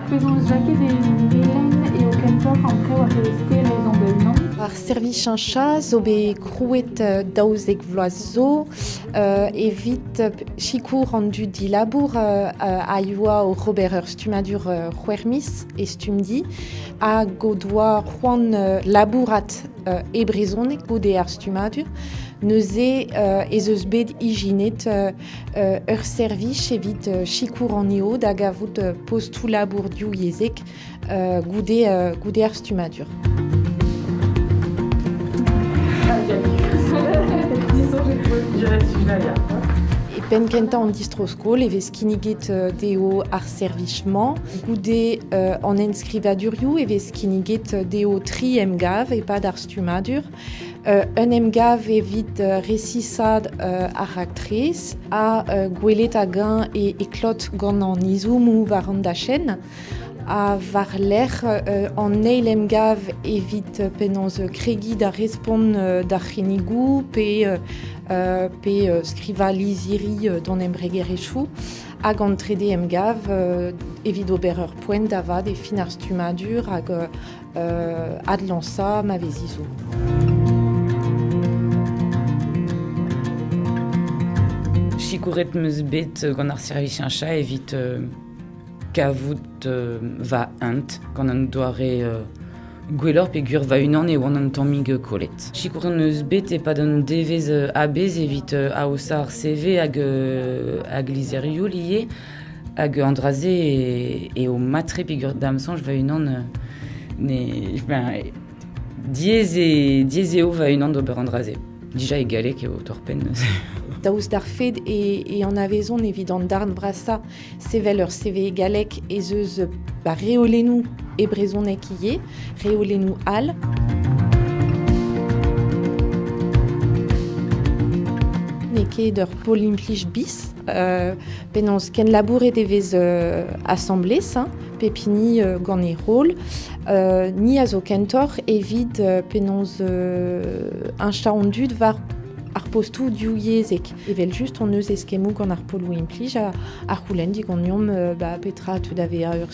Penaos lakaet e len eo kentoc'h an traoù a c'hellez ezañ da-unan? Ar servichañcha zo bet krouet daouzek vloaz zo evit sikour an dud dilabour a yoa oc'h ober ur stummadur c'hwec'h-miz e Stumdi hag o doa c'hoant labourat e brezhoneg goude ar stummadur. Neuze ez eus bet ijinet ur servij evit sikour an EO da gavout postoù-labour-div yezhek goude, goude ar stummadur. penn kentañ an distro-skol e vez kinniget euh, dezho ar servij-mañ. Goude euh, an enskrivadurioù e vez kinniget dezho tri emgav e-pad ar stummadur. un emgav evit resisaat ar raktres ha gwelet hag-eñ e klot gant an izoomoù war an dachenn ha war-lerc'h an eil emgav evit penaos kregiñ da respont d'ar c'hinnigoù pe pe skrivañ lizhiri d'an embregerezhioù hag an trede emgav evit ober ur poent da vat e fin ar stummadur hag adlañsañ ma vezi zo. Sikouret 'm eus bet gant ar servisiaña evit kavout va hent gant an doare gwelloc'h peogwir va-unan e oan an tammig kollet. Sikouret 'm eus bet e-pad un devezh a-bezh evit aozañ ar CV hag hag lizherioù ivez. Hag an dra-se eo mat-tre peger da'm soñj va-unan ne ben diaes eo diaes eo va-unan d'ober an dra-se. Dija e galleg eo torr-penn neuze. Daoust d'ar fed e anavezon evit an darn vrasañ sevel ur CV e galleg ez eus ba reolennoù e brezhoneg ivez, reolennoù all. N'eo ket ur pol implij bis, penaos kenlabouret e vez asambles, hein, pep hini gant e rol. ni a zo kentoc'h evit penaos heñchañ an dud war ar postoù divyezhek. Evel-just hon eus eskemmoù gant ar poloù implij a, a c'houlenn diganeomp ba, petra a teu da vezañ ur